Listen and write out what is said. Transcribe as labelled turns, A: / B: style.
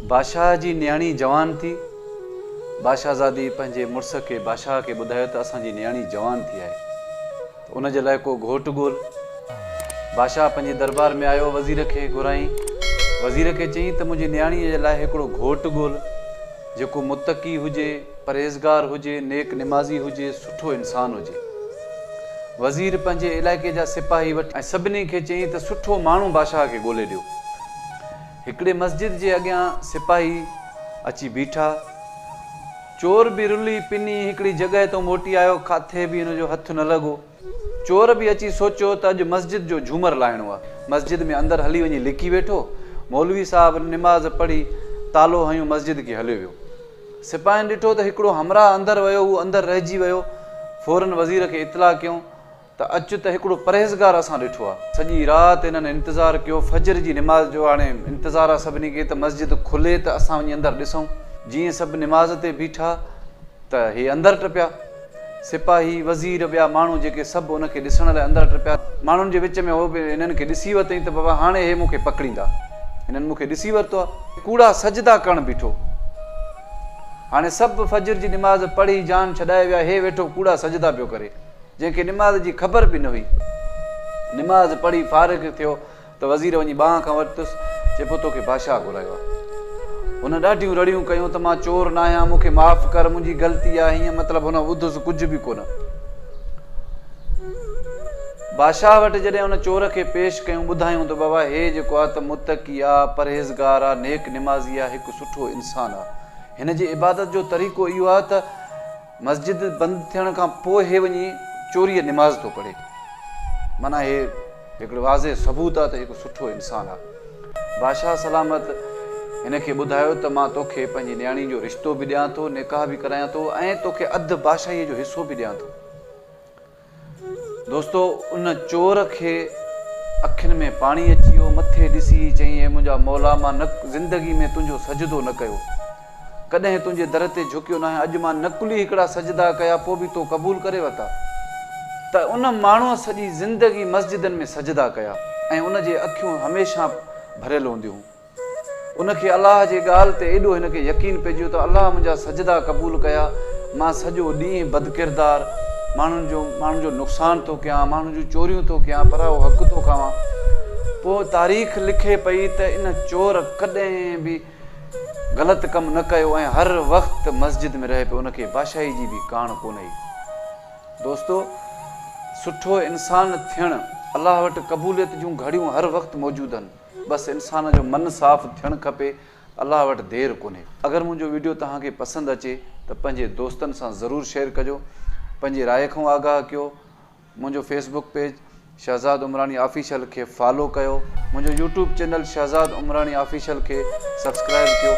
A: بادشاهه جي نياڻي جوان ٿي. بادشاهزادي پنهنجي مڙس کي بادشاهه کي ٻڌايو ته اسان جي نياڻي جوان ٿي آهي ته ان جي لاء ڪو گهوٽ ڳول. بادشاهه پنهنجي دربار ۾ آيو وزير کي گهرائين وزير کي چيائين ته منهنجي نياڻيء جي لاء هڪڙو گهوٽ ڳول جيڪو متقي هجي پرهيزگار هجي نيڪ نمازي هجي سٺو انسان هجي. وزير پنهنجي علائقي جا سپاهي وٺي ۽ سڀني کي چيائين ته سٺو ماڻهو بادشاهه کي ڳولي ڏيو. هڪڙي مسجد جي اڳيان سپاهي اچي بيٺا. چور به رلي پني هڪڙي جڳهه تون موٽي آيو، ڪاٿي به هن جو هٿ نه لڳو. چور به اچي سوچيو ته اڄ مسجد جو جهومر لاهڻو آ. مسجد ۾ اندر هلي وڃي لڪي ويٺو. مولوي صاحب نماز پڙهي تالو هنيو مسجد کي هليو ويو. سپاهين ڏٺو ته هڪڙو همراهه اندر ويو هو اندر رهجي ويو. فورن وزير کي اطلاع ڪيون. ته اچ ته هڪڙو پرهيزگار اسان ڏٺو آ. سڄي رات انهن انتظار ڪيو فجر جي نماز جو هاڻي انتظار آ سڀني کي ته مسجد کلي ته اسان وڃي اندر ڏسون. جيئن سڀ نماز تي بيٺا ته هي اندر ٽپيا. سپاهي، وزير، ٻيا ماڻهو جيڪي سڀ ان کي ڏسڻ لاء اندر ٽپيا. ماڻهن جي وچ ۾ هو به هنن کي ڏسي ورتئين ته بابا هاڻي هي مون کي پڪڙيندا. هنن مون کي ڏسي ورتو آ. ڪوڙا سجدا ڪرڻ بيٺو. هاڻي سڀ فجر جي نماز پڙهي جان ڇڏائي ويا هي ويٺو ڪوڙا سجدا پيو ڪري. جنهن کي نماز جي خبر به نه هئي. نماز پڙهي فارغ ٿيو ته وزير وڃي ٻانهن کان ورتس، چئي پيو توکي بادشاهه گهرايو آهي. هن ڏاڍيون رڙيون ڪيون ته مان چور ناهيان، مون کي معاف ڪر، منهنجي غلطي آهي، هينئن مطلب هن ٻڌس ڪجهه به ڪونه. بادشاهه وٽ جڏهن ان چور کي پيش ڪيون، ٻڌايون ته بابا هي جيڪو آهي ته متقي آ، پرهيزگار آ، نيڪ نمازي آ، هڪ سٺو انسان آ. هن جي عبادت جو طريقو اهو آ ته. مسجد بند ٿيڻ کان پوء هي وڃي چوريء نماز ٿو پڙهي. معنيٰ هي هڪڙو واضح ثبوت آهي ته هي ڪو سٺو انسان آهي. بادشاهه سلامت هن کي ٻڌايو ته مان توکي پنهنجي نياڻي جو رشتو به ڏيان ٿو، نڪاح به ڪرايان ٿو ۽ توکي اڌ بادشاهيء جو حصو به ڏيان ٿو. دوستو ان چور کي اکين ۾ پاڻي اچي ويو، مٿي ڏسي ئي چيائين، اي منهنجا مولا مان نه زندگي ۾ تنهنجو سجدو نه ڪيو. ڪڏهن تنهنجي در تي جهڪيو ناهي، اڄ مان نقلي هڪڙا سجدا ڪيا پوء به تو قبول ڪري ورتا. ته ان ماڻهوء سڄي زندگي مسجدن ۾ سجدا ڪيا ۽ ان جي اکيون هميشه ڀريل هونديون هيون. ان کي الله جي ڳالهه تي ايڏو هن کي يقين پئجيو ته الله منهنجا سجدا قبول ڪيا، مان سڄو ڏينهن بدڪردار، ماڻهن جو ماڻهن جو نقصان ٿو ڪيان، ماڻهن جون چوريون ٿو ڪيان، پرايو حق ٿو کاوان. پوء تاريخ لکي پئي ته ان چور ڪڏهن به غلط ڪم نه ڪيو ۽ هر وقت مسجد ۾ رهي پيو، ان کي بادشاهي جي به ڪاڻ ڪونه هئي. دوستو! سٺو انسان ٿيڻ الله وٽ قبوليت جون گهڙيون هر وقت موجود هن. بس انسان جو من صاف ٿيڻ کپي الله وٽ دير ڪونهي. اگر منهنجو ويڊيو توهان کي پسند اچي ته پنهنجي دوستن سان ضرور شيئر ڪجو پنهنجي راء کئون آگاهه ڪيو منهنجو Facebook page Shahzad Umrani official کي فالو ڪيو منهنجو YouTube channel Shahzad Umrani official کي سبسڪرائب ڪيو.